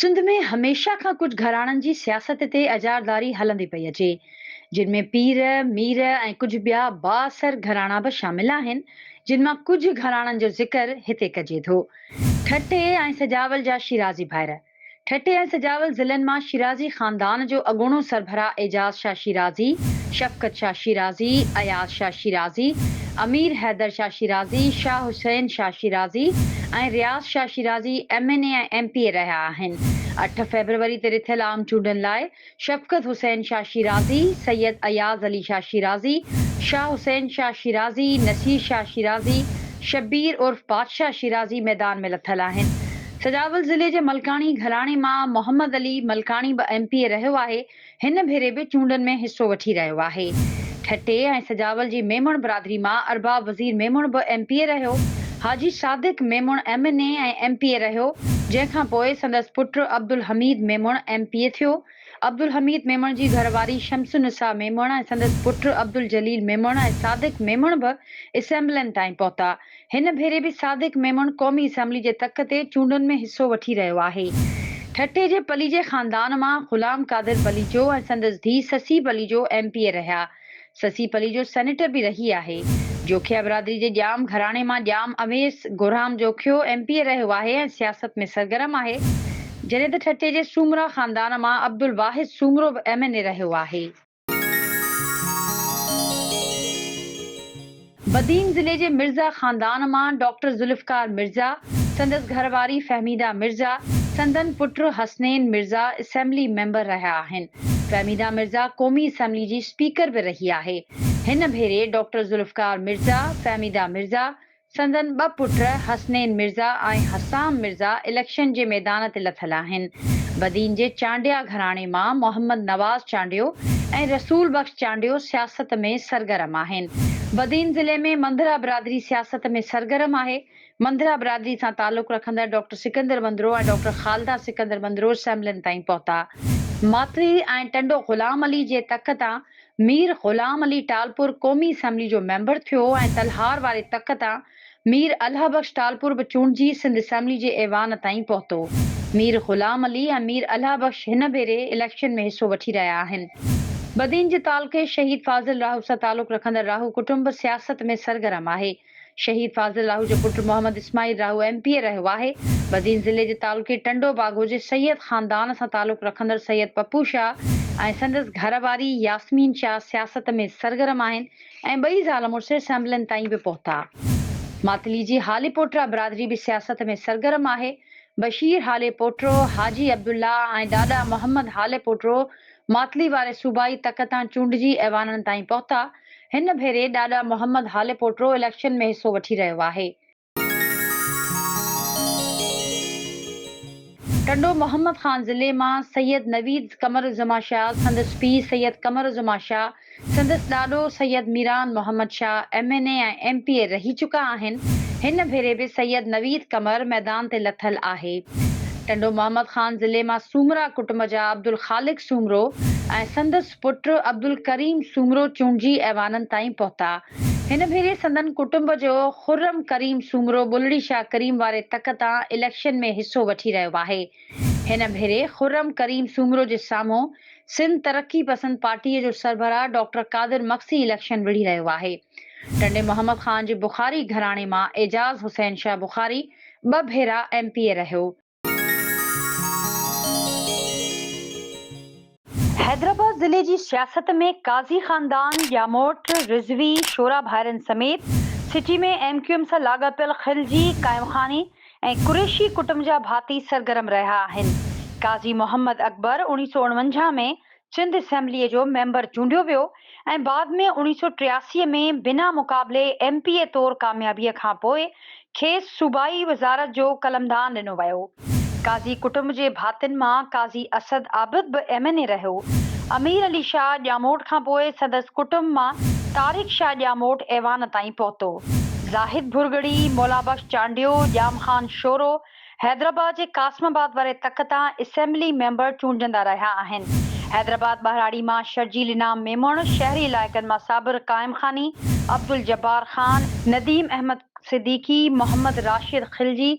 سنڌ ۾ هميشه کان ڪجهه گهراڻن جي سياست تي اجارڌاري هلندي پئي اچي، جن ۾ پير، مير ۽ ڪجهه ٻيا بااثر گهراڻا به شامل آهن، جن مان ڪجهه گهراڻن جو ذڪر هتي ڪجي ٿو. ٺٽي ۽ سجاول جا شيرازي ڀائر. ٺٽي ۽ سجاول ضلعن مان شيرازي خاندان جو اڳوڻو سربراهه Ijaz Shah Shirazi, Shafqat Shah Shirazi, Ayaz Shah Shirazi, Amir Haider Shah Shirazi, Shah Hussain Shah Shirazi ۽ Riaz Shah Shirazi M N A ۽ M P A رهيا آهن. اٺ فيبروري تي رٿيل عام چونڊن لاء شفقت حسين شاهه شيرازي، سيد اياز علي شاهه شيرازي، شاهه حسين شاهه شيرازي، نصير شاهه شيرازي، شبير عرف بادشاهه شيرازي ميدان ۾ لٿل آهن. سجاول ضلعي جي ملڪاڻي گهراڻي مان محمد علي ملڪاڻي به ايم پي اي رهيو آهي، هن ڀيري به چونڊن ۾ حصو وٺي رهيو آهي. ٺٽي ۽ سجاول جي ميمڻ برادري مان ارباب وزير ميمڻ به ايم پي اي رهيو. Haji Sadiq Memon M N A ۽ M P A رهيو، جنهن کان پوء سندس پٽ Abdulhamid Memon M P A ٿيو. عبدالحميد ميمڻ جي گهر واري شمس النساء ميمڻ ۽ سندس پٽ عبدالجليل ميمڻ ۽ صادق ميمڻ به اسيمبلين تائين پهتا. هن ڀيري به صادق ميمڻ قومي اسيمبلي جي تڪ تي چونڊن ۾ حصو وٺي رهيو آهي. ٺٽي جي پليجي خاندان مان غلام قادر پليجو ۽ سندس ڌيء Sassui Palijo M P A رهيا. سسي پليجو سينيٽر به رهي آهي. جوکيا برادري جي ڄام گهراڻي مان Jam Awais Gahram Jokhio M P A رهيو آهي ۽ سياست ۾ سرگرم آهي، جڏهن ته ٺٽي جي سومرا خاندان مان عبدالواحد سومرو به ايم اين اي رهيو آهي. بدين ضلعي جي مرزا خاندان مان ڊاڪٽر ذوالفقار مرزا، سندس گهر واري فهميده مرزا، سندن پٽ حسنين مرزا اسيمبلي ميمبر رهيا آهن. فهميده مرزا قومي اسيمبلي جي اسپيڪر به رهي آهي. هن ڀيري ڊاڪٽر ذوالفقار مرزا، فهميده مرزا، سندن ٻه پٽ حسنين مرزا ۽ حسام مرزا اليڪشن جي ميدان تي لٿل آهن. بدين جي چانڊيا گهراڻي مان محمد نواز چانڊيو ۽ رسول بخش چانڊيو سياست ۾ سرگرم آهن. بدين ضلعي ۾ منڌرا برادري سياست ۾ سرگرم آهي. منڌرا برادري سان تعلق رکندڙ ڊاڪٽر سڪندر منڌرو ۽ ڊاڪٽر خالده سڪندر منڌرو اسيمبلين تائين پهتا. ماٿري ۽ ٽنڊو غلام علي جي تڪ تان مير غلام علي ٽالپر قومي اسيمبلي جو ميمبر ٿيو ۽ تلهار واري تڪ تان مير الهه بخش ٽالپر به چونڊجي سنڌ اسيمبلي جي ايوان تائين پهتو. مير غلام علي ۽ مير الهه بخش هن ڀيري اليڪشن ۾ حصو وٺي رهيا آهن. بدين جي تعلقي شهيد فاضل راهوسان تعلق رکندڙ راهو ڪٽنب سياست ۾ سرگرم آهي. شهيد فاضل راهو جو پٽ Muhammad Ismail Rahu M P A رهيو آهي. بدين ضلعي جي تعلقي ٽنڊو باگو جي سيد خاندان سان تعلق رکندڙ سيد پپو شاهه ۽ سندس گهر واري ياسمين شاهه سياست ۾ سرگرم آهن ۽ ٻئي زال مڙس اسيمبلين تائين به پهتا. ماتلي جي هاليپوٽرا برادري به سياست ۾ سرگرم آهي. بشير هاليپوٽرو، حاجي عبدالله ۽ ڏاڏا محمد هاليپوٽرو ماتلي واري صوبائي تڪ تان چونڊجي ايوانن تائين پهتا، هن ڀيري ڏاڏا محمد هاليپوٽرو اليڪشن ۾ حصو وٺي رهيو آهي. ٽنڊو محمد خان ضلعي مان سيد نويد قمرالزمان شاز، سندس پيء سيد قمرالزمان شاهه، سندس ڏاڏو Syed Miran Muhammad Shah M N A ۽ M P A رهي چڪا آهن. هن ڀيري به سيد نويد قمر ميدان تي لٿل آهي. ٽنڊو محمد خان ضلعي مان سومرا ڪٽنب جا عبدالخالق سومرو ۽ سندس پٽ عبدالڪريم سومرو چونڊجي ايوانن تائين پهتا. هن ڀيري سندن ڪٽنب جو خرم ڪريم سومرو بلڙي شاهه ڪريم واري تڪ تان اليڪشن ۾ حصو وٺي رهيو آهي. هن ڀيري خرم ڪريم سومرو جي سامهون سنڌ ترقي پسند پارٽيء جو سربراهه ڊاڪٽر قادر مگسي اليڪشن وڙهي رهيو آهي. ٽنڊي محمد خان جي بخاري گهراڻي مان اعجاز حسين شاهه بخاري ٻه ڀيرا ايم پي اي رهيو. حيدرآباد ضلعي جي سياست ۾ قاضي خاندان، ڄاموٽ، رضوي، شورا ڀائرن سميت سٽي ۾ ايم ڪيو ايم سان لاڳاپيل خلجي، قائم خاني، ۽ قريشي ڪٽنب جا ڀاتي سرگرم رهيا آهن. قاضي محمد اڪبر اوڻيهه سؤ اڻونجاهه ۾ سنڌ اسيمبليء جو ميمبر چونڊيو ويو ۽ بعد ۾ اوڻيهه سؤ ٽياسي ۾ بنا مقابلي ايم پي اي طور ڪاميابيء کان پوء کيس صوبائي وزارت جو قلمدان ڏنو ويو. قاضي ڪٽنب جي ڀاتين مان قاضي اسد عابد به ايم اين اي رهيو. امير علي شاهه ڄاموٽ کان پوء سندس ڪٽنب مان طارق شاهه ڄاموٽ ايوان تائين پهتو. زاهد ڀرڳڙي، مولابخش چانڊيو، ڄام خان شورو، حيدرآباد جي قاسم آباد واري تڪ تان اسيمبلي ميمبر چونڊجندا رهيا آهن. حيدرآباد ٻهراڙي مان شرجيل انعام ميمڻ، شهري علائقن مان صابر قائم خاني، عبدالجبار خان، نديم احمد صديقي، محمد راشد خلجي،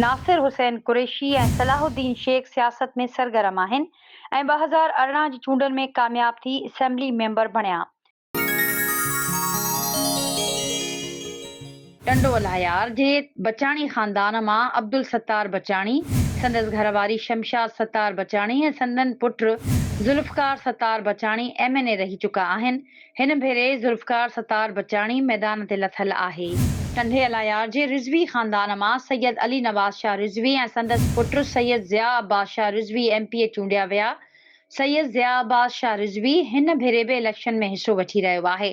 ناصر حسين قريشي ۽ صلاح الدين شيخ سياست ۾ سرگرم آهن ۽ ٻه هزار ارڙهن جي چونڊن ۾ ڪامياب ٿي اسيمبلي ميمبر بڻيا. ٽنڊو الاهيار جي بچاڻي خاندان مان عبدالستار بچاڻي، سندس گهر واري شمشاد ستار بچاڻي ۽ سندن پٽ Zulfiqar Sattar Bachani M N A رهي چڪا آهن. هن ڀيري ذوالفقار ستار بچاڻي ميدان تي لٿل آهي. ٽنڊي الاهيار جي رضوي خاندان مان سيد علي نواز شاهه رضوي ۽ سندس پٽ Syed Zia Abbas Shah Rizvi M P A چونڊيا ويا. سيد ضياء عباس شاهه رضوي هن ڀيري به اليڪشن ۾ حصو وٺي رهيو آهي.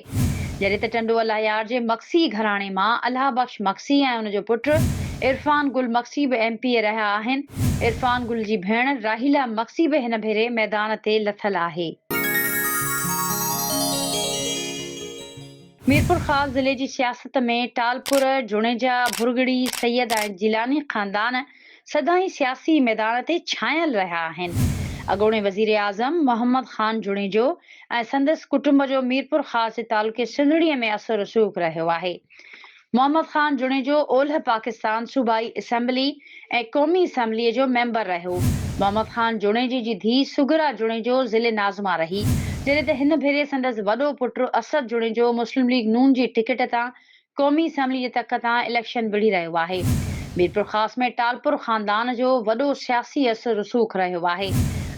جڏهن ته ٽنڊو الله يار جي مگسي گهراڻي مان الهه بخش مگسي ۽ ان جو پٽ عرفان گل مگسي به ايم پي اي رهيا آهن. عرفان گل جي ڀيڻ راحيلا مگسي به هن ڀيري ميدان تي لٿل آهي. ميرپورخاص ضلعي جي سياست ۾ ٽالپر، جوڻيجا، ڀرڳڙي، سيد ۽ جيلاني خاندان سدائين سياسي ميدان تي ڇانيل رهيا آهن. اڳوڻي وزيراعظم محمد خان جوڻيجو ۽ سندس ڪٽنب جو ميرپورخاص جي تعلقي سنڌڙي ۾ اثر رسوخ رهيو آهي. محمد خان جوڻيجو اولهه پاڪستان صوبائي اسيمبلي ۽ قومي اسيمبلي جو ميمبر رهيو. محمد خان جوڻيجي جي ڌيء سگرا جوڻيجو ضلعي ناظمه رهي. جڏهن ته هن ڀيري سندس وڏو پٽ اسد جوڻيجو مسلم ليگ نون جي ٽڪيٽ تان قومي اسيمبلي جي تڪ تان اليڪشن وڙهي رهيو آهي. ميرپورخاص ۾ ٽالپر خاندان جو وڏو سياسي اثر رسوخ رهيو آهي.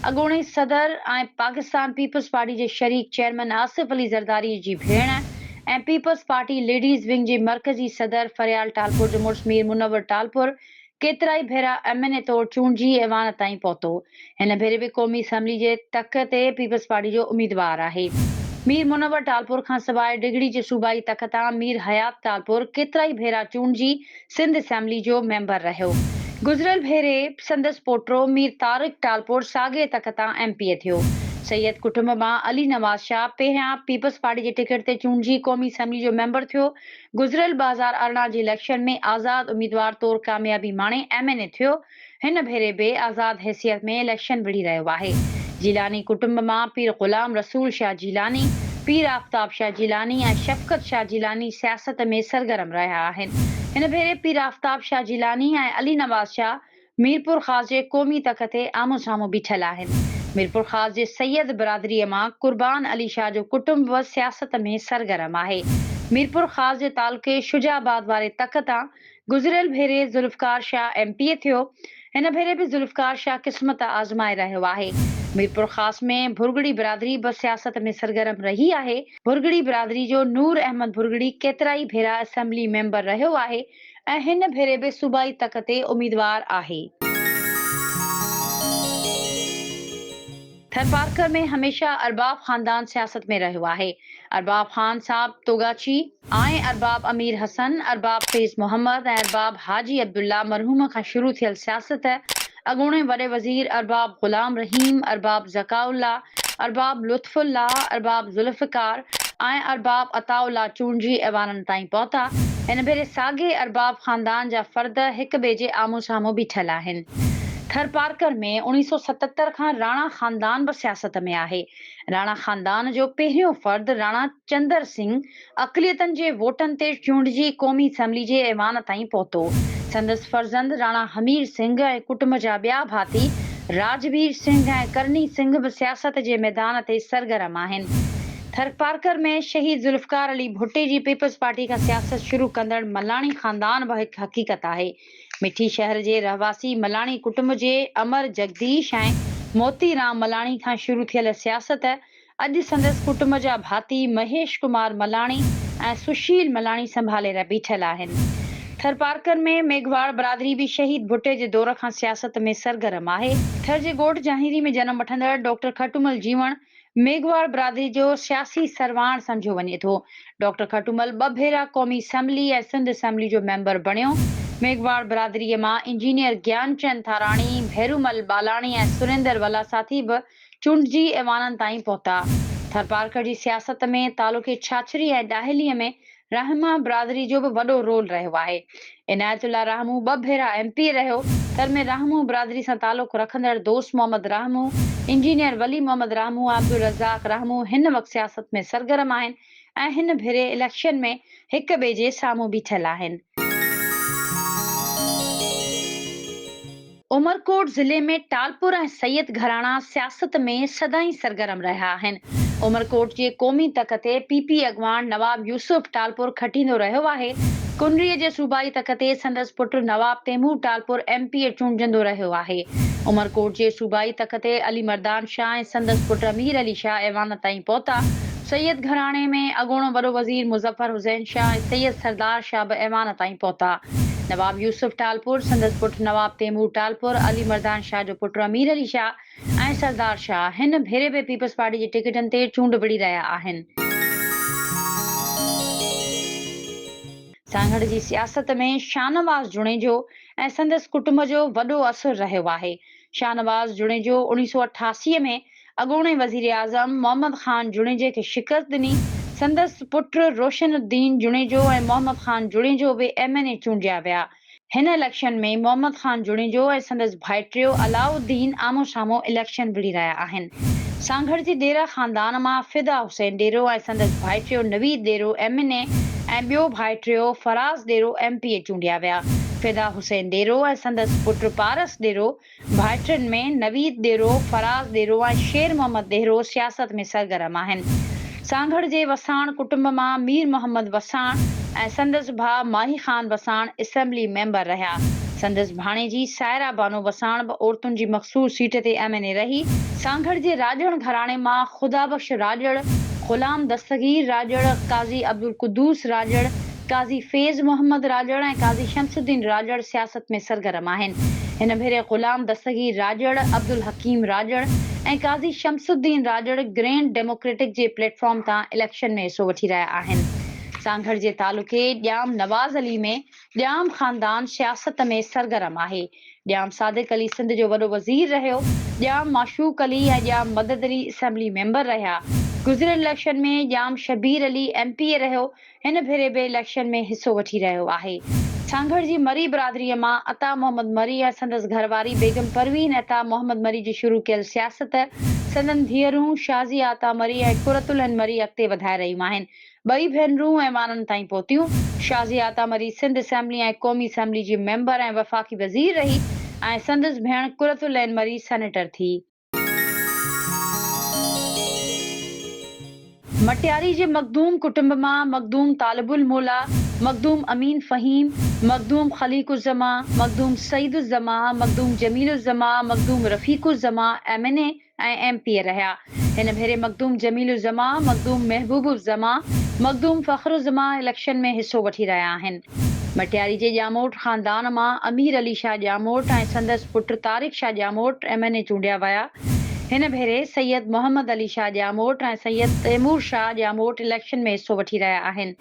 اڳوڻي صدر ۽ پاڪستان پيپلز پارٽي جي شريڪ چيئرمين آصف علي زرداري جي ڀيڻ ۽ پيپلز پارٽي ليڊيز ونگ جي مرڪزي صدر فريال ٽالپر جو مڙس مير منور ٽالپر ڪيترائي ڀيرا ايم اين اي طور چونڊجي ايوان تائين پهتو، هن ڀيري به قومي اسيمبلي جي تڪ تي پيپلز پارٽي جو اميدوار آهي. مير منور ٽالپور کان سواء ڊگهڙي جي صوبائي تڪ تان مير حيات ٽالپور ڪيترائي ڀيرا چونڊجي سنڌ اسيمبلي جو ميمبر رهيو. گذريل ڀيري سندس پوٽو مير طارق ٽالپور ساڳئي تڪ تان ايم پي اي ٿيو. سيد ڪٽنب مان علي نواز شاهه پهريان پيپلز پارٽي جي ٽڪيٽ تي چونڊجي قومي اسيمبلي جو ميمبر ٿيو، گذريل ٻه هزار ارڙهن جي اليڪشن ۾ آزاد اميدوار طور ڪاميابي ماڻي ايم اين اي ٿيو، هن ڀيري به آزاد حيثيت ۾ اليڪشن وڙهي رهيو آهي. جيلاني ڪٽنب مان پير غلام رسول شاهه جيلاني، پير آفتاب شاهه جيلاني ۽ شفقت شاهه جيلاني سياست ۾ سرگرم رهيا آهن. هن ڀيري پير آفتاب شاهه جيلاني ۽ علي نواز شاهه ميرپورخاص جي قومي تڪ تي آمهون سامهون بيٺل آهن. ميرپورخاص جي سيد برادريء مان قربان علي شاهه جو ڪٽنب به سياست ۾ سرگرم آهي. ميرپورخاص جي تعلقي شجاع آباد واري تڪ تان گذريل ڀيري Zulfiqar Shah M P A ٿيو. هن ڀيري به ذوالفقار شاهه قسمت آزمائي رهيو آهي. ميرپورخاص ۾ ڀرڳڙي برادري به سياست ۾ سرگرم رهي آهي. ڀرڳڙي برادري جو نور احمد ڀرڳڙي ڪيترائي ڀيرا اسيمبلي ميمبر رهيو آهي. ۽ هن ڀيري به صوبائي تڪ تي اميدوار آهي. ٿرپارڪر ۾ هميشه ارباب خاندان سياست ۾ رهيو آهي. ارباب خان صاحب توگاچي، آئين، ارباب امير حسن، ارباب فيض محمد ۽ ارباب حاجي عبدالله مرحوم کان شروع ٿيل سياست، اڳوڻي وڏي وزير ارباب غلام رحيم، ارباب ذڪاء الله، ارباب لطف الله، ارباب ذوالفقار ۽ ارباب عطاء الله چونڊجي ايوانن تائين پهتا. هن ڀيري ساڳئي ارباب خاندان جا فرد هڪ ٻئي جي آمهون سامهون بيٺل آهن. ٿرپارڪر ۾ اڻيهه سؤ ستهتر کان راڻا خاندان به سياست ۾ آهي. راڻا خاندان جو پهريون فرد راڻا چندر سنگهه اقليتن جي ووٽن تي چونڊجي قومي اسيمبلي جي ايوان تائين پهتو. سندس فرزند راڻا همير سنگهه ۽ ڪٽنب جا ٻيا ڀاتي راجبير سنگهه ۽ ڪرني سنگهه به سياست جي ميدان تي سرگرم آهن. ٿرپارڪر ۾ شهيد ذوالفقار علي ڀٽي جي پيپلز پارٽي کان سياست شروع ڪندڙ ملاڻي خاندان به هڪ حقيقت آهي. مٺي شهر جي رهواسي ملاڻي ڪٽنب جي امر جڳديش ۽ موتي رام ملاڻي کان شروع ٿيل سياست اڄ سندس ڪٽنب جا ڀاتي مهيش ڪمار ملاڻي ۽ سشيل ملاڻي سنڀالي رهي بيٺل آهن. ٿرپارڪر ۾ ميگهواڙ برادري به شهيد ڀٽي جي دور کان سياست ۾ سرگرم آهي. ٿر جي ڳوٺ جهانهيري ۾ جنم وٺندڙ ڊاڪٽر کٽومل جيوڻ ميگهواڙ برادري جو سياسي سرواڻ سمجهيو وڃي ٿو. ڊاڪٽر کٽومل ٻه ڀيرا قومي اسيمبلي ۽ سنڌ اسيمبلي جو ميمبر بڻيو. ميگهواڙ برادري مان انجنيئر گيان چند ٿاراڻي، ڀيرومل ٻالاڻي ۽ سريندر ولاثاٿي به چونڊجي ايوانن تائين پهتا. ٿرپارڪر جي سياست ۾ تعلقي ڇاڇري ۽ ڏاهلي ۾ رحمه برادري جو به وڏو رول رهيو آهي. عنايت الله رحمو ٻه ڀيرا ايم پي اي رهيو، تن ۾ رحمو برادري سان تعلق رکندڙ دوست محمد رحمو، انجنيئر ولي محمد رحمو ۽ عبدالرزاق رحمو هن وقت سياست ۾ سرگرم آهن، ۽ هن ڀيري اليڪشن ۾ هڪ ٻئي جي سامهون بيٺل آهن. عمرڪوٽ ضلعي ۾ ٽالپر ۽ سيد گهراڻا سياست ۾ سدائين سرگرم رهيا آهن. عمرڪوٽ جي قومي تڪ تي پي پي اڳواڻ نواب يوسف ٽالپر کٽيندو رهيو آهي. ڪنري جي صوبائي تڪ تي سندس پٽ Nawab Taimur Talpur M P A چونڊجندو رهيو آهي. عمرڪوٽ جي صوبائي تڪ تي علي مردان شاهه ۽ سندس پٽ مير علي شاهه ايوان تائين پهتا. سيد گهراڻي ۾ اڳوڻو وڏو وزير مظفر حسين شاهه ۽ سيد سردار شاهه به ايوان تائين پهتا. نواب يوسف ٽالپر، سندس پٽ نواب تيمور ٽالپر، علي مردان شاهه جو پٽ امير علي شاهه ۽ سردار شاهه هن ڀيري به پيپلز پارٽي جي ٽڪيٽن تي چونڊ وڙهي رهيا آهن. سانگهڙ جي سياست ۾ شاهنواز جوڻيجو ۽ سندس ڪٽنب جو وڏو اثر رهيو آهي. شاهنواز جوڻيجو اڻيهه سؤ اٺاسي ۾ اڳوڻي وزيراعظم محمد خان جوڻيجي کي شڪست ڏني، سندس پٽ روشن الدين جوڻيجو ۽ محمد خان جوڻيجو به ايم اين اي چونڊيا ويا. هن اليڪشن ۾ محمد خان جوڻيجو ۽ سندس ڀائٽيو علاء الدين آمهون سامهون اليڪشن وڙهي رهيا آهن. سانگهڙ جي ڏيره خاندان مان فدا حسين ڏيرو ۽ سندس ڀائٽيو Naveed Dero M N A ۽ ٻيو ڀائٽيو Faraz Dero M P A چونڊيا ويا. فدا حسين ڏيرو ۽ سندس پٽ پارس ڏيرو ڀائٽن ۾ نويد ڏيرو، فراز ڏيرو ۽ شير محمد ڏيرو سياست ۾ سرگرم آهن. سانگهڙ جي وساڻ ڪٽنب مان مير محمد وساڻ ۽ سندس ڀاء ماهي خان وساڻ اسيمبلي ميمبر رهيا. سندس ڀاڻيجي سائره بانو وساڻ به عورتن جي مخصوص سيٽ تي ايم اين اي رهي. سانگهڙ جي راڄڙ گهراڻي مان خدا بخش راڄڙ، غلام دستگير راڄڙ، قاضي عبدالقدوس راڄڙ، قاضي فيض محمد راڄڙ ۽ قاضي شمس الدين راڄڙ سياست ۾ سرگرم آهن. هن ڀيري غلام دستگير راڄڙ، عبدالحڪيم راڄڙ ۽ قاضي شمس الدين راڄڙ گرينڊ ڊيموڪريٽڪ جي پليٽ فارم تان اليڪشن ۾ حصو وٺي رهيا آهن. سانگهڙ جي تعلقي ڄام نواز علي ۾ ڄام خاندان سياست ۾ سرگرم آهي. ڄام صادق علي سنڌ جو وڏو وزير رهيو. ڄام معشوق علي ۽ ڄام مدد علي اسيمبلي ميمبر رهيا. گذريل election ۾ Jam Shabir Ali M P A رهيو هن ڀيري به اليڪشن ۾ حصو وٺي رهيو آهي. سانگهڙ جي مري برادريء مان عطا محمد مري ۽ سندس گهر واري بيگم پروين عطا محمد مري جي شروع ڪيل سياست سندن ڌيئرون شازيه عطا مري ۽ قرت العين مري اڳتي وڌائي رهيون آهن. ٻئي ڀينرون ايوانن تائين پهتيون. شازيه عطا مري سنڌ اسيمبلي ۽ قومي اسيمبلي جي ميمبر ۽ وفاقي وزير رهي ۽ سندس ڀيڻ قرت العين مري سينيٽر ٿي. مٽياري جي مخدوم ڪٽنب مان Makhdoom Talib Almaula, Makhdoom Amin Fahim, Makhdoom Khaliq Uzzaman, Makhdoom Saeed Uzzaman, Makhdoom Jameel Uzzaman, Makhdoom Rafiq Uzzaman M N A ۽ M P A رهيا. هن ڀيري مخدوم جميل الزمان، مخدوم محبوب الزمان، مخدوم فخر الزمان اليڪشن ۾ حصو وٺي رهيا آهن. ڀٽياري جي ڄاموٽ خاندان مان امير علي شاهه ڄاموٽ ۽ سندس پٽ Tariq Shah Jamot M N A چونڊيا ويا. هن ڀيري سيد محمد علي شاهه ڄاموٽ ۽ سيد تيمور شاهه ڄاموٽ اليڪشن ۾ حصو وٺي رهيا آهن.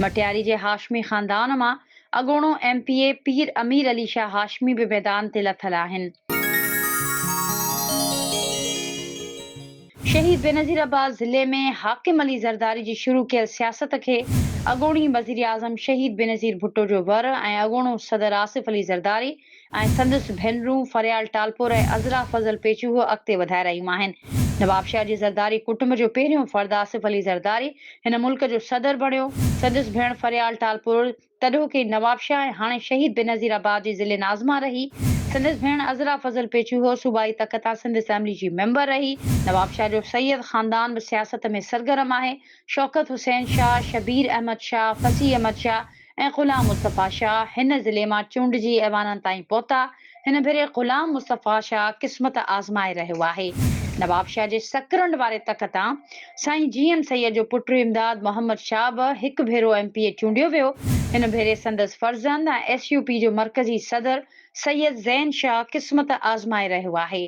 ڀٽياري جي هاشمي خاندان مان اڳوڻو M P A Pir Amir Ali Shah Hashmi به ميدان تي لٿل آهن. شهيد بينظير عباس ضلعي ۾ حاڪم علي زرداري جي شروع ڪيل سياست کي اڳوڻي وزيراعظم شهيد بينظير ڀٽو جو ور ۽ اڳوڻو صدر آصف علي زرداري ۽ سندس ڀينرون فريال ٽالپور ۽ عذرا فضل پيچوهو اڳتي وڌائي رهيون آهن. نوابشاهه جي زرداري ڪٽنب جو پهريون فرد آصف علي زرداري هن ملڪ جو صدر بڻيو. سندس ڀيڻ فريال ٽالپور، تڏهوڪي نوابشاهه ۽ هاڻي شهيد بينظير آباد جي ضلعي ناظمه رهي. سندس ڀيڻ عذرا فضل پيچوهو صوبائي تڪ تان سنڌ اسيمبلي جي ميمبر رهي. نوابشاهه جو سيد خاندان به سياست ۾ سرگرم آهي. شوڪت حسين شاهه، شبير احمد شاهه، فصيح احمد شاهه ۽ غلام مصطفيٰ شاهه هن ضلعي مان چونڊجي ايوانن تائين پهتا. هن ڀيري غلام مصطفيٰ شاهه قسمت آزمائي رهيو آهي. نوابشاهه جي سڪرنڊ واري تڪ تان سائين جي ايم سيد جو پٽ امداد محمد شاهه به هڪ ڀيرو ايم پي اي چونڊيو ويو. هن ڀيري سندس فرزند ۽ ايس يو پي جو مرڪزي صدر سيد زين شاهه قسمت آزمائي رهيو آهي.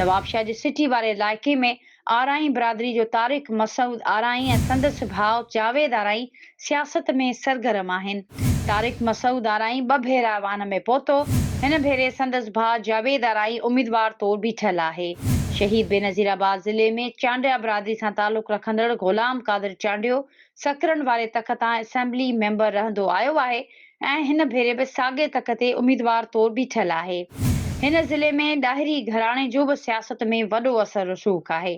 نوابشاهه جي سٽي واري علائقي ۾ آرائين برادري جو طارق مسعود آرائين ۽ سندس ڀاء جاويد آرائين سياست ۾ سرگرم آهن. طارق مسعود آرائين ٻه ڀيرا ايوان ۾ پهتو. هن ڀيري سندس ڀاء جاويد آرائين اميدوار طور بيٺل آهي. شهيد بينظير آباد ضلعي ۾ چانڊيا برادري سان تعلق رکندڙ غلام قادر چانڊيو سکرن واري تڪ تان اسيمبلي ميمبر رهندو آيو آهي ۽ هن ڀيري به ساڳئي تڪ تي اميدوار طور بيٺل آهي. هن ضلعي ۾ ڏاهري گهراڻي جو به سياست ۾ وڏو اثر رسوخ آهي.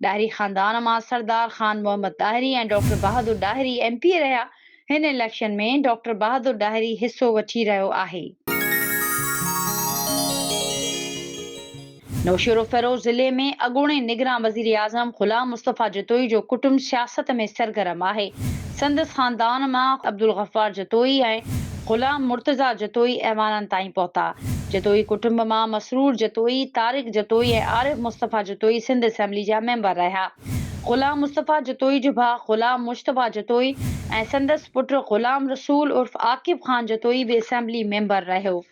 ڏاهري خاندان مان Sardar Khan Muhammad Dahri ۽ doctor Bahadur Dahri M P A رهيا. هن اليڪشن ۾ ڊاڪٽر بهادر ڏاهري حصو وٺي رهيو آهي. نوشهروفيروز ضلعي ۾ اڳوڻي نگران وزيراعظم غلام مصطفيٰ جتوئي جو ڪٽنب سياست ۾ سرگرم آهي. سندس خاندان مان عبدالغفار جتوئي ۽ غلام مرتضيٰ جتوئي ايوانن تائين پهتا. جتوئي ڪٽنب مان مسرور جتوئي، طارق جتوئي ۽ عارف مصطفيٰ جتوئي سنڌ اسيمبلي جا ميمبر رهيا. غلام مصطفيٰ جتوئي جو ڀاء غلام مجتبيٰ جتوئي ۽ سندس پٽ غلام رسول عرف عاقب خان جتوئي به اسيمبلي ميمبر رهيو.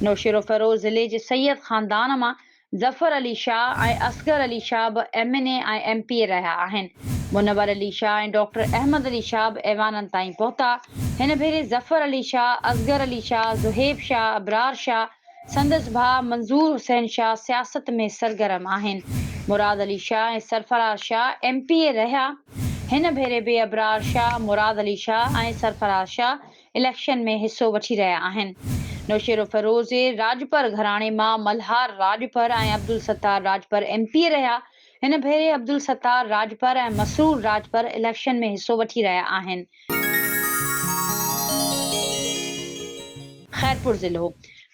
نوشهروفيروز ضلعي جي سيد خاندان مان ظفر علي شاهه ۽ اصغر علي شاهه به M N A ۽ M P A رهيا آهن. منور علي شاهه ۽ ڊاڪٽر احمد علي شاهه به ايوانن تائين پهتا. هن ڀيري ظفر علي شاهه، اصغر علي شاهه، زهيب شاهه، ابرار شاهه، سندس ڀاء منظور حسين شاهه سياست ۾ سرگرم آهن. Murad Ali Shah ۽ Sarfaraz Shah M P A رهيا. هن ڀيري به ابرار شاهه، مراد علي شاهه ۽ سرفراز شاهه اليڪشن ۾ حصو وٺي رهيا آهن. نوشيروفيروز راڄپر گهراڻي مان Malhar Rajpar ۽ Abdul Sattar Rajpar M P A رهيا. هن ڀيري عبدالستار راڄپر ۽ مسرور راڄپر اليڪشن ۾ حصو وٺي رهيا آهن. خيرپور ضلعو،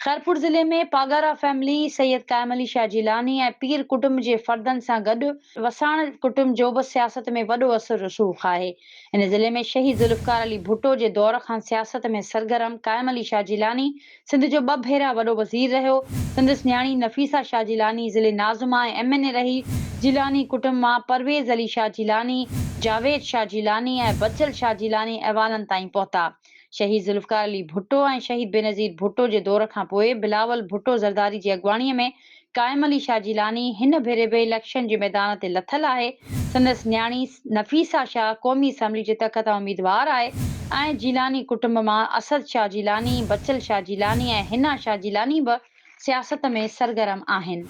خيرپور ضلعي ۾ پاڳارا فيملي سيد قائم علي شاهه جيلاني ۽ پير ڪٽنب جي فردن سان گڏ وساڻ ڪٽنب جو به سياست ۾ وڏو اثر رسوخ آهي. هن ضلعي ۾ شهيد ذوالفقار علي ڀٽو جي دور کان سياست ۾ سرگرم قائم علي شاهه جيلاني سنڌ جو ٻه ڀيرا وڏو وزير رهيو. سندس نياڻي نفيسه شاهه جيلاني ضلعي ناظمه ۽ ايم اين اي رهي. جيلاني ڪٽنب مان پرويز علي شاهه جيلاني، جاويد شاهه جيلاني ۽ بچل شاهه جيلاني ايوانن تائين پهتا. شهيد ذوالفقار علي ڀٽو ۽ شهيد بينظير ڀٽو جي دور کان پوء بلاول ڀٽو زرداري جي اڳواڻي ۾ قائم علي شاهه جيلاني هن ڀيري به اليڪشن جي ميدان تي لٿل آهي، سندس نياڻي نفيسه شاهه قومي اسيمبلي جي تڪ تان اميدوار آهي ۽ جيلاني ڪٽنب مان اسد شاهه جيلاني، بچل شاهه جيلاني ۽ حنا شاهه جيلاني به. سياست ۾ سرگرم آهن.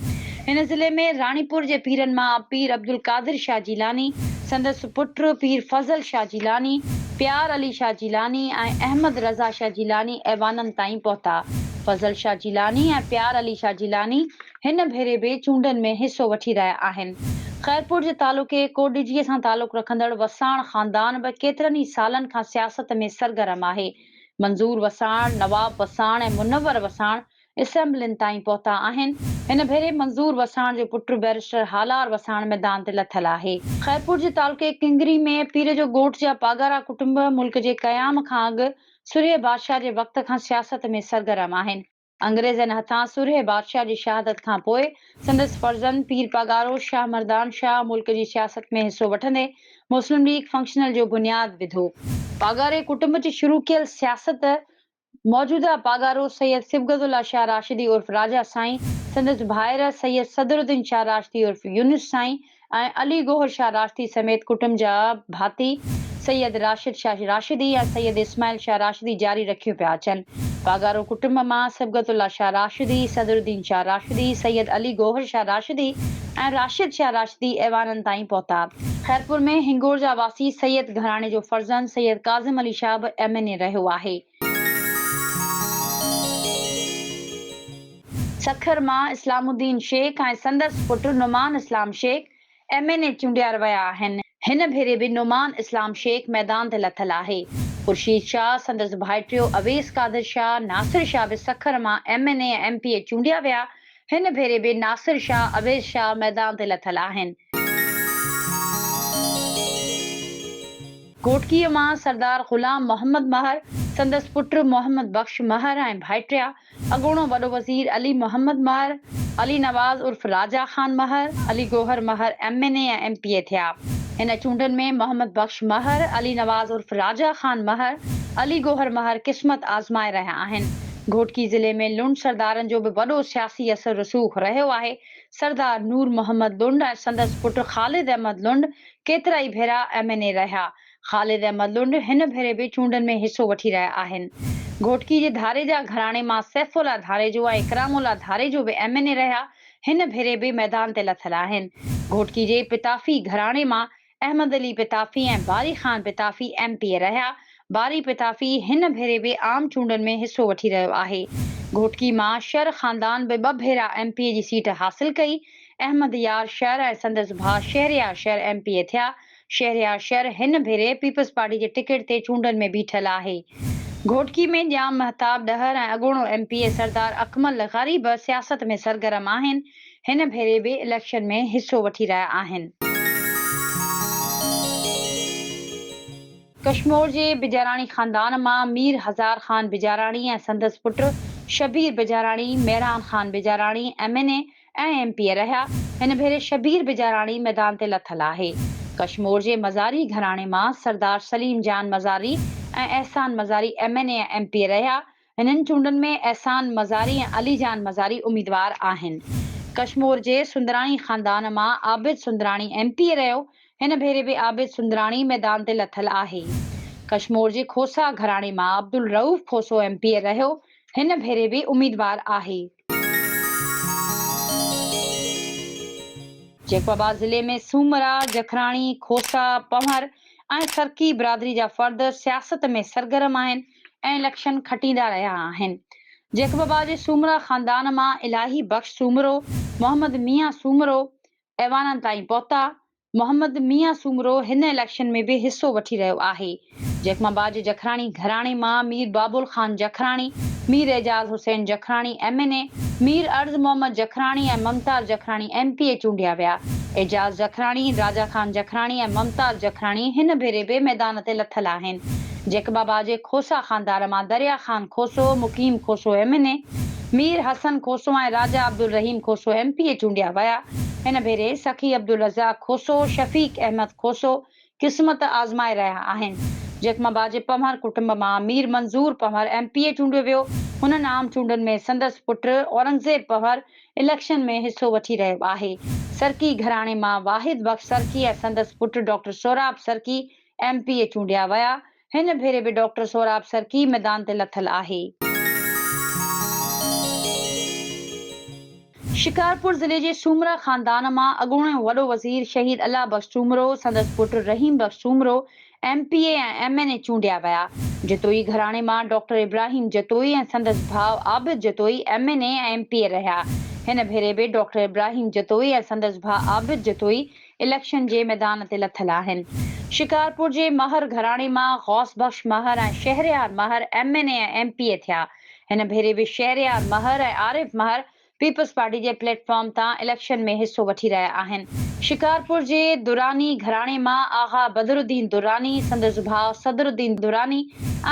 هن ضلعي ۾ راڻيپور جي پيرن مان پير عبدالقادر شاهه جيلاني، سندس پٽ پير فضل شاهه جيلاني، پيار علي شاهه جيلاني ۽ احمد رضا شاهه جيلاني ايوانن تائين پهتا. فضل شاهه جيلاني ۽ پيار علي شاهه جيلاني هن ڀيري به چونڊن ۾ حصو وٺي رهيا آهن. خيرپور جي تعلقي ڪوڏجي سان تعلق رکندڙ وساڻ خاندان به ڪيترن ئي سالن کان سياست ۾ سرگرم آهي. منظور وساڻ، نواب وساڻ ۽ منور وساڻ اسيمبلين تائين پهتا آهن. هن ڀيري منظور وساڻ جو پٽ بئريسٽر هالار وساڻ ميدان تي لٿل آهي. خيرپور جي تعلقي ڪنگري ۾ پير جو ڳوٺ جا پاڳارا ڪٽنب ملڪ جي قيام کان اڳ سرهيه بادشاهه جي وقت کان سياست ۾ سرگرم آهن. انگريزن هٿان سرهي بادشاهه جي شهادت کان پوء سندس فرزند پير پاڳارو شاهه مردان شاهه ملڪ جي سياست ۾ حصو وٺندي مسلم ليگ فنڪشنل جو بنياد وڌو. پاڳاري ڪٽنب جي شروع ڪيل سياست موجوده پاڳارو سيد صبغت الله شاهه راشدي عرف راجا سائين، سندس ڀائر سيد صدر الدين شاهه راشدي عرف يونس سائين، ۽ علي گوهر شاهه راشدي سميت ڪٽنب جا ڀاتي سيد راشد شاهه راشدي ۽ سيد اسماعيل شاهه راشدي جاري رکيون پيا اچن. واگارو ڪٽنب مان صبغت الله شاهه راشدي، صدر الدين شاهه راشدي، سيد علي گوهر شاهه راشدي ۽ راشد شاهه راشدي ايوانن تائين پهتا. خيرپور ۾ هنگور جا واسي سيد گهراڻي جو فرزند سيد ڪاظم علي شاهه به ايم اين اي رهيو آهي. سکر مان اسلام الدين شيخ ۽ سندس پٽ Noman Islam Shaikh M N A چونڊيار ويا آهن، هن ڀيري به نعمان اسلام شيخ ميدان تي لٿل آهي، خورشيد شاهه، سندس ڀائٽيو اويس قادر شاهه، ناصر شاهه به سکر مان M N A ۽ M P A چونڊيا ويا، هن ڀيري به ناصر شاهه، اويس شاهه ميدان تي لٿل آهن. گهوٽڪيء مان سردار غلام محمد مهر، سندس پٽ محمد بخش مهر ۽ ڀائٽيا، اڳوڻو وڏو وزير علي محمد مهر، علي نواز عرف Raja Khan Mahar, Ali Gohar Mahar M N A ۽ M P A ٿيا. هن چونڊن ۾ محمد بخش مهر، علي نواز عرف راجا خان مهر، علي گوهر مهر قسمت آزمائي رهيا آهن. گهوٽڪي ضلعي ۾ لنڊ سردارن جو به وڏو سياسي اثر رسوخ رهيو آهي. سردار نور محمد لنڊ ۽ سندس پٽ خالد احمد لنڊ ڪيترائي ڀيرا ايم اين اي رهيا. خالد احمد لنڊ هن ڀيري به چونڊن ۾ حصو وٺي رهيا آهن. گهوٽڪي جي ڌاريجا گهراڻي مان سيف الله ڌاريجو ۽ اڪرام الله ڌاريجو به ايم اين اي رهيا هن ڀيري به ميدان تي لٿل آهن. گهوٽڪي جي پتافي گهراڻي مان Ahmed Ali Pitafi ۽ Bari Khan Pitafi M P A رهيا. باري پتافي هن ڀيري به عام چونڊن ۾ حصو وٺي رهيو آهي. گهوٽڪي مان شر خاندان به ٻه ڀيرا ايم پي اي جي سيٽ حاصل ڪئي. احمد يار شر ۽ سندس ڀاء Shahryar Shar M P A ٿيا. شهريار شر هن ڀيري پيپلز پارٽي جي ٽڪيٽ تي چونڊن ۾ بيٺل آهي. گهوٽڪي ۾ ڄام مهتاب ڏهر ۽ اڳوڻو M P A Sardar Akmal غريب سياست ۾ سرگرم آهن. هن ڀيري به اليڪشن ۾ حصو وٺي رهيا آهن. ڪشمور جي بجاراڻي خاندان مان مير هزار خان بجاراڻي ۽ سندس پٽ Shabbir Bijarani, Mehran Khan Bijarani M N A ۽ M P A رهيا. هن ڀيري شبير بجاراڻي ميدان تي لٿل آهي. ڪشمور جي مزاري گهراڻي مان Sardar Salim Jan Mazari ۽ Ahsan Mazari M N A ۽ M P A رهيا هنن چونڊن ۾ احسان مزاري ۽ علي جان مزاري اميدوار آهن. ڪشمور جي سندراڻي خاندان مان Abid Sundrani M P A رهيو، هن ڀيري به عابد سندراڻي ميدان تي لٿل آهي. ڪشمور جي کوسا گهراڻي مان Abdul Rauf Khoso M P A رهيو، هن ڀيري به اميدوار آهي. جيڪب آباد ضلعي ۾ سومرا، جکراڻي، کوسا، پنهور ۽ سرڪي برادري جا فرد سياست ۾ سرگرم آهن. ۽ لڪشن کٽيندا رهيا آهن. جيڪ بابا جي سومرا خاندان مان الاهي بخش سومرو، محمد ميان سومرو ايوانن تائين پهتا. محمد ميان سومرو هن اليڪشن ۾ به حصو وٺي رهيو آهي. جيڪ بابا جي جکراڻي گهراڻي مان Mir Babul Khan Jakhrani, Mir Ijaz Hussain Jakhrani M N A, Mir Arz Muhammad Jakhrani ۽ Mumtaz Jakhrani M P A چونڊيا ويا. اعجاز جکراڻي، راجا خان جکراڻي ۽ ممتاز جکراڻي هن ڀيري به ميدان تي لٿل آهن. جيڪ بابا جي کوسا خاندار مان Darya Khan Khoso, Muqeem Khoso M N A, Mir Hassan Khoso ۽ Raja Abdul Rahim Khoso M P A چونڊيا ويا. هن ڀيري سخي عبدالرزاق کوسو، شفيق احمد کوسو قسمت آزمائي رهيا آهن. جيڪ بابا جي پنهور ڪٽنب مان Mir Manzoor Panhwar M P A چونڊيو ويو. هنن عام چونڊن ۾ سندس پٽ اورنگزيب پنهور اليڪشن ۾ حصو وٺي رهيو آهي. سرڪي گهراڻي مان واحد بخش سرڪي ۽ سندس پٽ doctor Sohrab Sarki M P A چونڊيا ويا، هن ڀيري به ڊاڪٽر سهراب سرڪي ميدان تي لٿل آهي. شڪارپور ضلعي جي سومرا خاندان مان اڳوڻو وڏو وزير شهيد الله بخش سومرو، سندس پٽ Rahim Bakhsh Soomro M P A ۽ M N A چونڊيا ويا. جتوئي گهراڻي مان ڊاڪٽر ابراهيم جتوئي ۽ سندس ڀاء Abid Jatoi M N A ۽ M P A رهيا، هن ڀيري به ڊاڪٽر ابراهيم جتوئي ۽ سندس ڀاء عابد جتوئي اليڪشن جي ميدان تي لٿل آهن. شڪارپور جي مهر گهراڻي مان Ghous Bakhsh Mahar ۽ Shahryar Mahar M N A ۽ M P A ٿيا. هن ڀيري به شهريار مهر ۽ عارف مهر پيپلز پارٽي جي پليٽ فارم تان اليڪشن ۾ حصو وٺي رهيا آهن. شڪارپور جي دراني گهراڻي مان آغا بدرالدين دراني، سندس ڀاء صدرالدين دراني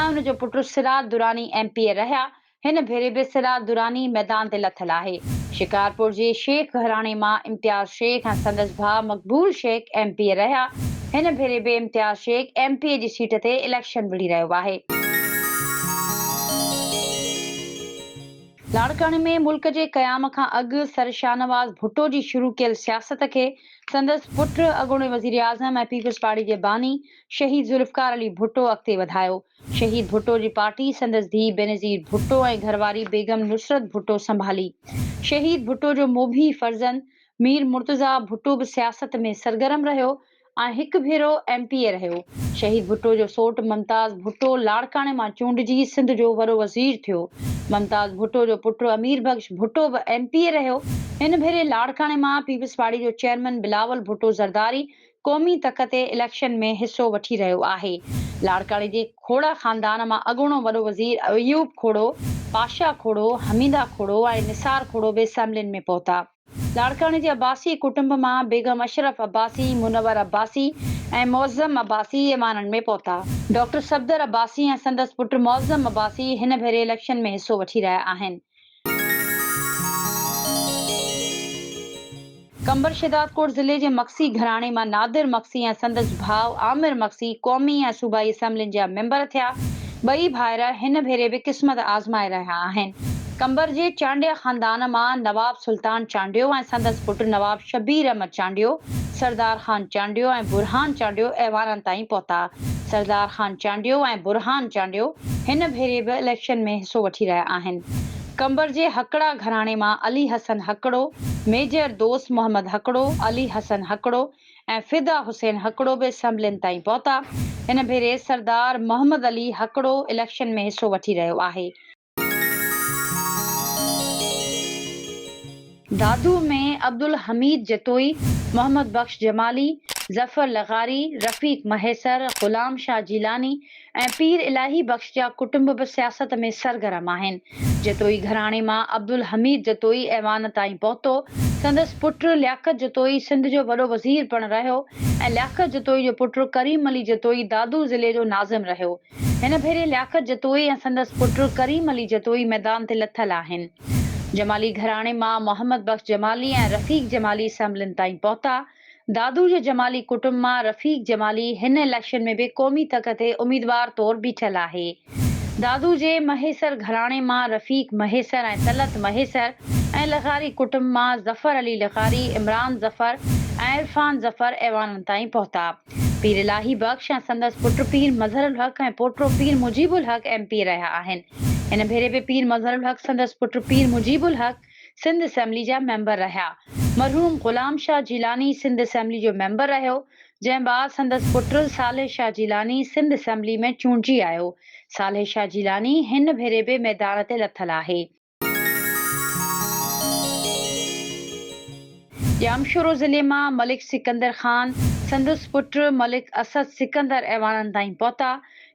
۽ ان جو پٽ Siraj Durrani M P A رهيا هن ڀيري به سراج دراني ميدان تي لٿل آهي. شڪارپور جي شيخ گهراڻي مان امتياز شيخ ۽ سندس ڀاء Maqbool Shaikh M P A رهيا، هن ڀيري به Imtiaz Shaikh M P A جي سيٽ تي اليڪشن وڙهي رهيو آهي. لاڙڪاڻي ۾ ملڪ جي قيام کان اڳ سر شاهنواز ڀٽو جي شروع ڪيل سياست کي سندس پٽ اڳوڻي وزيراعظم ۽ پيپلزپارٽي جي باني شهيد ذوالفقار علي ڀٽو اڳتي وڌايو، شهيد ڀٽو جي پارٽي سندس ڌيء بينظير ڀٽو ۽ گهرواري بيگم نصرت ڀٽو سنڀالي. شهيد ڀٽو جو موڀي فرزند مير مرتضيٰ ڀٽو به سياست ۾ سرگرم رهيو ۽ هڪ ڀيرو ايم پي اي رهيو. شهيد ڀٽو جو سوٽ ممتاز ڀٽو لاڙڪاڻي مان چونڊجي سنڌ جو وڏو وزير ٿيو. ممتاز ڀٽو جو پٽ امير بخش ڀٽو به ايم پي اي رهيو. هن ڀيري لاڙڪاڻي مان پيپلزپارٽي جو چيئرمين بلاول ڀٽو زرداري قومي تڪ تي اليڪشن ۾ حصو وٺي رهيو آهي. لاڙڪاڻي جي کوڙه خاندان مان اڳوڻو وڏو وزير ايوب کوڙو، پاشا کوڙو، حميده کوڙو ۽ نثار کوڙو به اسيمبلين ۾ پهتا. لاڙڪاڻي جي عباسي ڪٽنب مان بيگم اشرف عباسي، منور عباسي ۽ معظم عباسي ايوانن ۾ پهتا. ڊاڪٽر صفدر عباسي ۽ سندس پٽ معظم عباسي هن ڀيري اليڪشن ۾ حصو وٺي رهيا آهن. قمبر شهدادڪوٽ ضلعي جي مگسي گهراڻي مان نادر مگسي ۽ سندس ڀاء عامر مگسي قومي ۽ صوبائي اسيمبلين جا ميمبر ٿيا. ٻئي ڀائر هن ڀيري به قسمت آزمائي رهيا آهن. قمبر جي چانڊيا خاندان مان نواب سلطان چانڊيو ۽ سندس پٽ نواب شبير احمد چانڊيو، سردار خان چانڊيو ۽ برهان چانڊيو ايوانن تائين پهتا. سردار خان چانڊيو ۽ برهان چانڊيو هن ڀيري به اليڪشن ۾ حصو وٺي رهيا آهن. قمبر جي هڪڙا گهراڻي مان علي حسن هڪڙو، ميجر دوست محمد هڪڙو، علي حسن هڪڙو ۽ فدا حسين هڪڙو به اسيمبلين تائين پهتا. هن ڀيري سردار محمد علي هڪڙو اليڪشن ۾ حصو وٺي رهيو آهي. دادو ۾ عبدالحميد جتوئي، محمد بخش جمالي، ظفر لغاري، رفيق مهيسر، غلام شاهه جيلاني ۽ پير الاهي بخش جا ڪٽنب به سياست ۾ سرگرم آهن. جتوئي گهراڻي مان عبدالحميد جتوئي ايوان تائين پهتو. سندس پٽ لياقت جتوئي سنڌ جو وڏو وزير پڻ رهيو ۽ لياقت جتوئي جو پٽ ڪريم علي جتوئي دادو ضلعي جو ناظم رهيو. هن ڀيري لياقت جتوئي ۽ سندس پٽ ڪريم علي جتوئي ميدان تي لٿل آهن. جمالي گهراڻي مان محمد بخش جمالي ۽ رفيق جمالي اسيمبلين تائين پهتا. دادو جي جمالي ڪٽنب مان رفيق جمالي هن اليڪشن ۾ به قومي تڪ تي اميدوار طور بيٺل آهي. دادو جي مهيسر گهراڻي مان رفيق مهيسر ۽ طلعت مهيسر ۽ لغاري ڪٽنب مان ظفر علي لغاري، عمران ظفر ۽ عرفان ظفر ايوانن تائين پهتا. پير الاهي بخش ۽ سندس پٽ پير مظهر الحق ۽ پوٽو پير مجيب الحق ايم پي رهيا آهن. هن ڀيري به پير مظهر الحق سندس پٽ پير مجيب الحق سنڌ اسيمبلي جا ميمبر رهيا. مرحوم غلام شاهه جيلاني سنڌ اسيمبلي جو ميمبر رهيو، جنهن بعد سندس پٽ صالح شاهه جيلاني سنڌ اسيمبلي ۾ چونڊجي آيو. صالح شاهه جيلاني هن ڀيري به ميدان تي لٿل آهي. ڄامشورو ضلعي مان ملڪ سڪندر خان سندس پٽ ملڪ اسد سڪندر ايوانن تائين پهتا.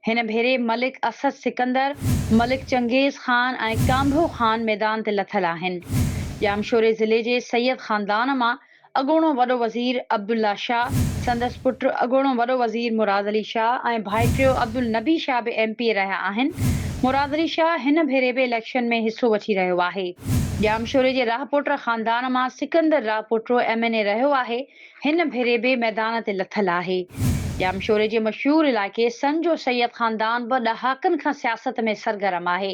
هن ڀيري ملڪ اسد سڪندر، ملڪ چنگيز خان ۽ ڪانڀو خان ميدان تي لٿل آهن. ڄامشوري ضلعي جي سيد خاندان مان اڳوڻو وڏو وزير عبدالله شاهه، سندس پٽ اڳوڻو وڏو وزير مراد علي شاهه ۽ ڀائٽيو عبدالنبي شاهه به ايم پي اي رهيا آهن. مراد علي شاهه هن ڀيري به اليڪشن ۾ حصو وٺي رهيو آهي. ڄامشوري جي راهپوٽر خاندان مان Sikandar Rahpoto M N A رهيو آهي، هن ڀيري به ميدان تي لٿل آهي. ڄامشوري جي مشهور علائقي سن جو سيد خاندان به ڏهاڪن کان سياست ۾ سرگرم آهي.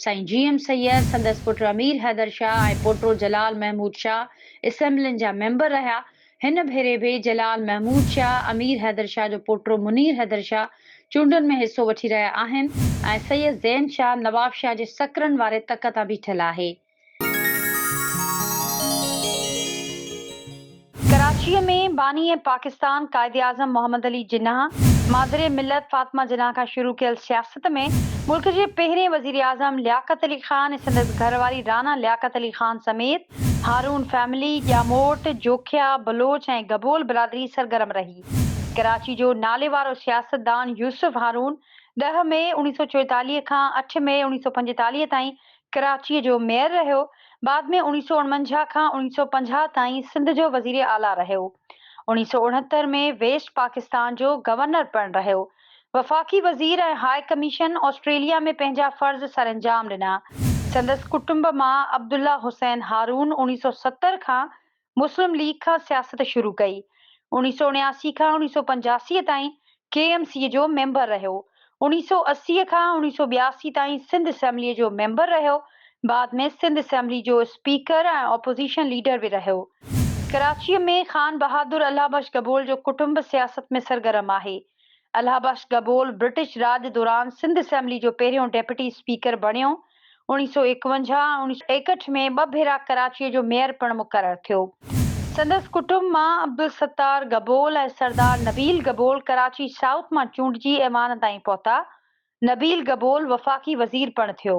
سائين جي ايم سيد، سندس پٽ امير حيدر شاهه ۽ پوٽو جلال محمود شاهه اسيمبلين جا ميمبر رهيا. هن ڀيري به جلال محمود شاهه، امير حيدر شاهه جو پوٽو منير حيدر شاهه چونڊن ۾ حصو وٺي رهيا آهن ۽ سيد زين شاهه نواب شاهه جي سڪرن واري تڪ تان بيٺل آهي. ڪراچيء ۾ باني پاڪستان قائداعظم محمد علي جناح، مادر ملت فاطمه جناح کان شروع ڪيل سياست ۾ ملڪ جي پهرين وزيراعظم لياقت علي خان ۽ سندس گهر واري رانا لياقت علي خان سميت هارون فيملي، ڄاموٽ، جوکيا، بلوچ ۽ گبول برادري سرگرم رهي. ڪراچي جو ناليوارو سياستدان يوسف هارون ڏهه مئي اوڻيهه سؤ چوئيتاليهه کان اٺ مئي اوڻيهه سؤ پنجيتاليهه تائين ڪراچيء جو ميئر رهيو، بعد ۾ اوڻيهه سؤ اڻونجاهه کان اوڻيهه سؤ پنجاهه تائين سنڌ جو وزير اعليٰ رهيو. اوڻيهه سؤ اڻهتر ۾ ويسٽ پاڪستان جو گورنر پڻ رهيو. وفاقي وزير ۽ هاء ڪميشن آسٽريليا ۾ پنهنجا فرض سرانجام ڏنا. سندس ڪٽنب مان عبدالله حسين هارون اوڻيهه سؤ ستر کان مسلم ليگ کان سياست شروع ڪئي. اوڻيهه سؤ اڻياسي کان اوڻيهه سؤ پنجاسي تائين ڪي ايم سي جو ميمبر رهيو. اوڻيهه سؤ اسي کان اوڻيهه سؤ ٻياسي تائين سنڌ اسيمبليء جو ميمبر رهيو بعد ۾ سنڌ اسيمبلي جو اسپيڪر ۽ اپوزيشن ليڊر به رهيو. ڪراچيء ۾ خان بهادر الله بخش گبول جو ڪٽنب سياست ۾ سرگرم آهي. الله بخش گبول برٽش راڄ دوران سنڌ اسيمبلي جو پهريون ڊيپٽي اسپيڪر بڻيو. اڻيهه سؤ ايڪونجاهه ۽ اڻيهه سؤ ايڪهٺ ۾ ٻه ڀيرا ڪراچيء جو ميئر پڻ مقرر ٿيو. سندس ڪٽنب مان عبدالستار گبول ۽ سردار نبيل گبول ڪراچي سائوٿ مان چونڊجي ايوان تائين پهتا. نبيل گبول وفاقي وزير پڻ ٿيو.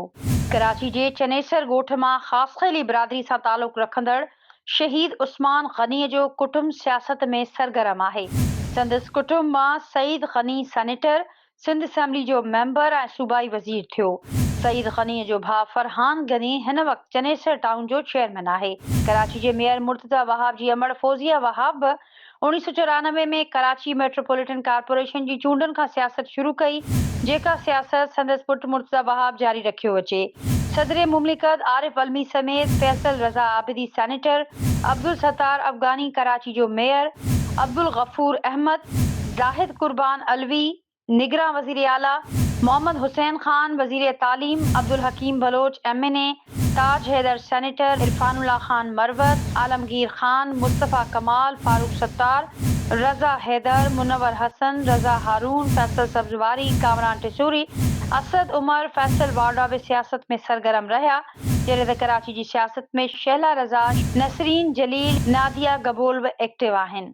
ڪراچي جي چنيسر ڳوٺ مان خاصخيلي برادري سان تعلق رکندڙ شهيد عثمان غني جو ڪٽنب سياست ۾ سرگرم آهي. سندس ڪٽنب مان سعيد غني سينيٽر، سنڌ اسيمبلي جو ميمبر ۽ صوبائي وزير ٿيو. سعيد غني جو ڀاء فرحان غني هن وقت چنيسر ٽائون جو چيئرمين آهي. ڪراچي جي ميئر مرتضيٰ وهاب جي امڙ فوزيه وهاب به اوڻيهه سؤ چورانوي ۾ ڪراچي ميٽروپوليٽن ڪارپوريشن جي چونڊن کان سياست شروع ڪئي، جيڪا سياست سندس پٽ مرتضيٰ وهاب جاري رکيو اچي. صدر مملڪت عارف علمي سميت فيصل رضا عابدي سينيٽر، عبدالستار افغاني ڪراچي جو ميئر، عبدالغفور احمد، زاهد قربان علوي، نگران وزير اعليٰ محمد حسين خان، وزير تعليم Abdul Hakeem Baloch M N A, Taj Haider senator, Irfan Ullah Khan Marwat, Alamgir Khan, Mustafa Kamal, Farooq Sattar, Raza Haider, Munawar حسن، رضا هارون، فيصل سبزواري، ڪامران ٽسوري، اسد عمر، فيصل واڊا به سياست ۾ سرگرم رهيا جڏهن ته ڪراچي جي سياست ۾ شهلا رضا، نسرين جليل، ناديه گبول به ايڪٽو آهن.